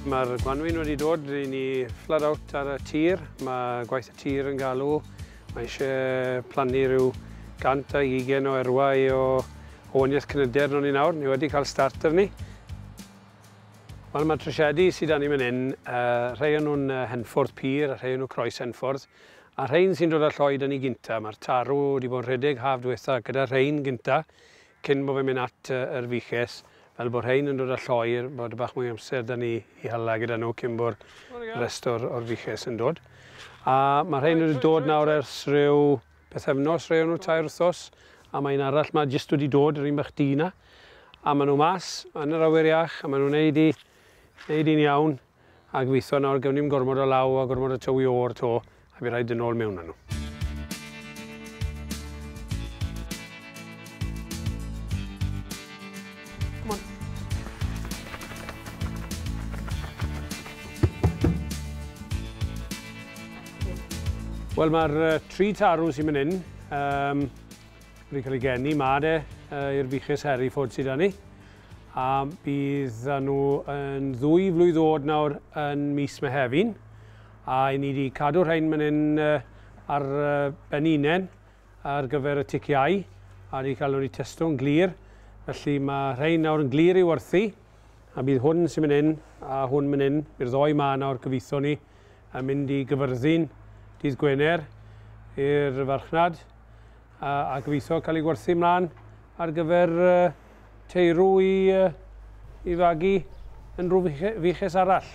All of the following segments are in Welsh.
Mae'r gwanwyn wedi dod i ni flood out ar y tir. Mae gwaith y tir yn galw. Mae eisiau plannu rhyw 120 o erwau o oniaeth cnyder nhw'n ni nawr. Ni wedi cael start ar ni. Wel, mae trosiedi sydd â ni fan hyn, uh, rhai o'n nhw'n uh, henffordd pur a rhai o'n nhw croes henffordd. A rhein sy'n dod â Lloyd yn i gynta. Mae'r tarw wedi bod yn rhedeg haf dwetha gyda rhein gynta cyn bo fe'n mynd at yr Fiches fel bo rhein yn dod â Lloyr bod bach mwy amser da ni i hala gyda nhw cyn bo'r rest o'r o'r Fiches yn dod. A ma rhein wedi dod nawr ers rhyw pethefnos rhei o nhw tair wthos a mae un arall ma jyst wedi dod yr un bach du na a ma nhw mas yn yr awyr iach a ma nhw'n neud i neud i'n iawn. A gobeithio nawr gewn ni'm gormod o law a gormod o tywi o'r to a by' raid dod nôl mewn â nhw. C'mon. Wel ma'r yy tri tarw sy myn 'yn yym wedi ca'l ei geni 'ma de yy i'r buches Hereford sy 'da ni. A bydd nhw yn ddwy flwydd oed nawr yn mis Mehefin. A i ni wedi cadw rhain man hyn ar ben unen ar gyfer y ticiau a wedi cael nhw wedi testo'n glir. Felly mae rhain nawr yn glir i werthu a bydd hwn sy'n mynd hyn a hwn mynd hyn, bydd ddoi ma nawr gyfeitho ni yn mynd i gyfyrddin dydd Gwener i'r farchnad. a gobeithio cael ei gwerthu mlaen ar gyfer teirw i fagu yn rhyw fuches arall.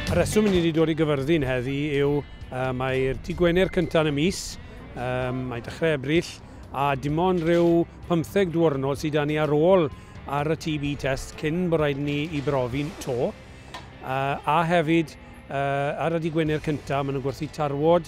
Y rheswm i ni wedi dod i gyfyrddin heddi yw uh, mae'r Di Gwener cyntaf yn y mis, um, mae dechrau Ebrill, a dim ond rhyw 15 diwrnod sydd â ni ar ôl ar y TB test cyn bod rhaid ni i brofi'n to. Uh, a hefyd, uh, ar y Di Gwener cyntaf, maen nhw'n gwerthu tarwod,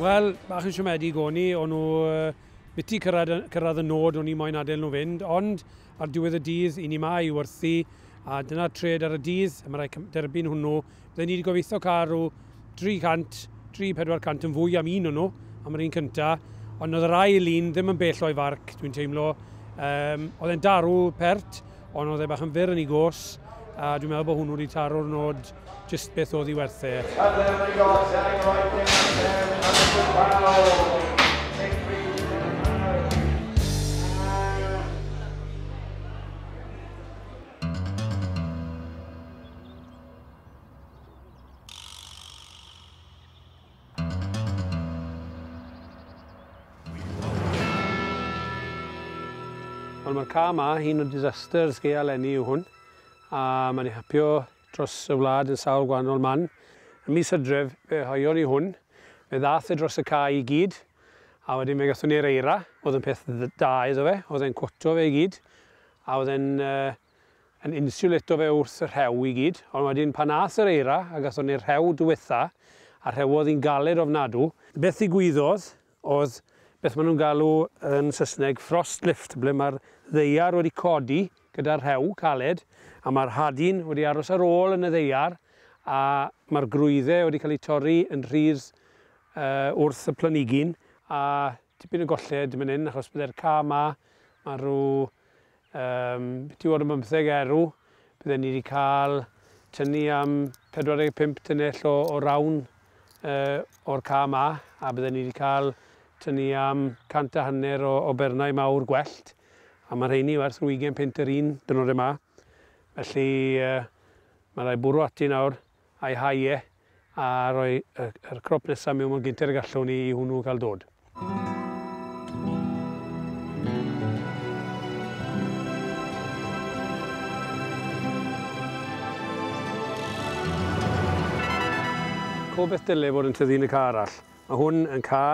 Wel, bach yn siomedig o'n i, o'n nhw biti cyrraedd, cyrraedd y nod o'n i moyn adael nhw fynd, ond ar diwedd y dydd, i ni ma i werthu, a dyna tred ar y dydd, a mae rhaid derbyn hwnnw. Byddai ni wedi gobeithio cael rhyw 300, 300-400 yn fwy am un o'n nhw, am yr un cynta, ond oedd yr ail un ddim yn bell o'i farc, dwi'n teimlo. Um, oedd e'n darw pert, Ond oedd e bach yn fyr yn ei gos, a dwi'n meddwl bod hwnnw wedi taro'r nod jyst beth oedd i werth e. Wel mae'r ca yma, un o disasters gea lenni yw hwn, a mae wedi hapio dros y wlad yn sawl gwahanol man. Y mis hydref fe hoion ni hwn, fe ddath e dros y ca i gyd, a wedyn fe gathon ni'r eira, oedd yn peth da iddo fe, oedd e'n cwoto fe i gyd, a oedd e'n uh, yn insiwleto fe wrth y rhew i gyd, ond wedyn pan aeth yr eira a gathon ni'r rhew dwetha, a rhewodd hi'n galed ofnadw, beth ddigwyddodd oedd beth ma' nhw'n galw yn Saesneg frost lift, ble ma'r ddaear wedi codi gyda'r rhew caled, a ma'r hadyn wedi aros ar ôl yn y ddaear, a ma'r gwrwydde wedi cael eu torri yn rhydd yy wrth y planigyn, a tipyn o golled man 'yn achos bydde'r cae 'ma, ma' rhyw Am tua ar bymtheg erw bydden ni 'di cael tynnu am 45 tunnell o o rawn o'r cae 'ma, a bydden ni 'di cael tynnu am cant a hanner o o bernau mawr gwellt, a ma' rheiny werth rhyw ugain punt yr un, dwrnode 'ma. Felly, ma' rai' bwrw ati nawr. a'i hau e a rhoi yr crop nesa mewn mor gynted ag allwn ni i hwnnw gael dod. Co beth dyle fod yn tyfu yn y ca arall. Mae hwn yn ca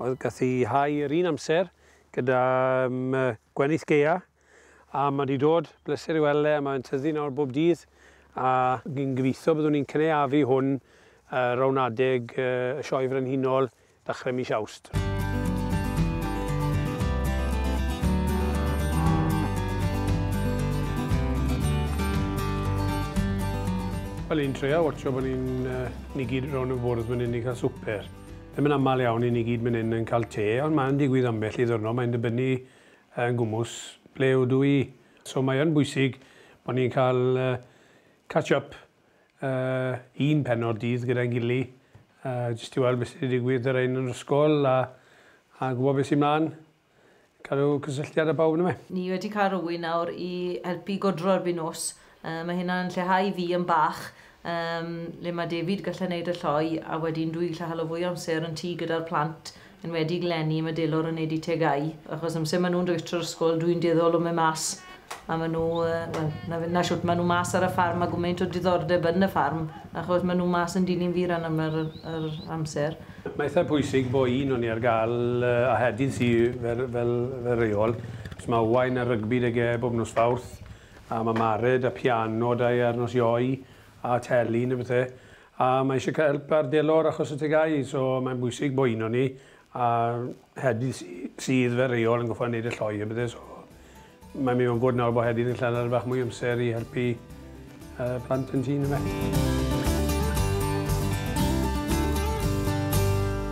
oedd gath i hau yr un amser gyda um, gwenith geia A ma' 'di dod, bleser i weld e, mae'n tyfu nawr bob dydd, a fi'n gobeithio byddwn ni'n cynaeafu hwn ar rownd adeg y Sioe Frenhinol ddechrau mis Awst. Wel, ni'n treial watsio bod ni'n ni gyd rownd y bwrdd fan hyn i cael swper. Ddim yn aml iawn i ni gyd fan hyn yn cael te, ond mae'n digwydd ambell i ddiwrnod, mae'n dibynnu yn gwmws ble ydw i. So mae yn bwysig bod ni'n cael catch up un pennod dydd gyda'n gily jyst i weld beth sy'n digwydd y rhain yn yr ysgol a a gwybod beth sy'n mlan. Cadw cysylltiad â pawb yndyfe? Ni wedi cael rhywun nawr i helpu i godro erbyn nos Yy mae hynna yn lleihau fi yn bach yym le ma David gallu neud y lloi a wedyn dwi gallu halo fwy o amser yn tŷ gyda'r plant enwedig leni ma Delor yn neud i tegau achos amser ma nhw'n dwytr ysgol dwi'n dueddol o mynd mas a ma nhw yy wel na fe- na shwt ma nhw mas ar y ffarm ma gwmaint o diddordeb yn y ffarm achos ma nhw mas yn dilyn fi ran aml yr yr amser. Mae eitha pwysig bo un o ni ar gal yy a Hedydd sy fel fel fel reol os ma Owain ar rygbi 'da ge bob nos Fawrth a ma Mared a piano da ar nos Ioe a telyn a bethe a mae eisiau cael help ar delor achos y tegau so mae'n bwysig bo uno ni a Hedyn sy sydd fe reol yn goffa neud y lloi a bethe so mae'n mynd mewn gwd nawr bo Hedyn yn lladd ar bach mwy amser i helpu y plant yn tŷ yndyfe?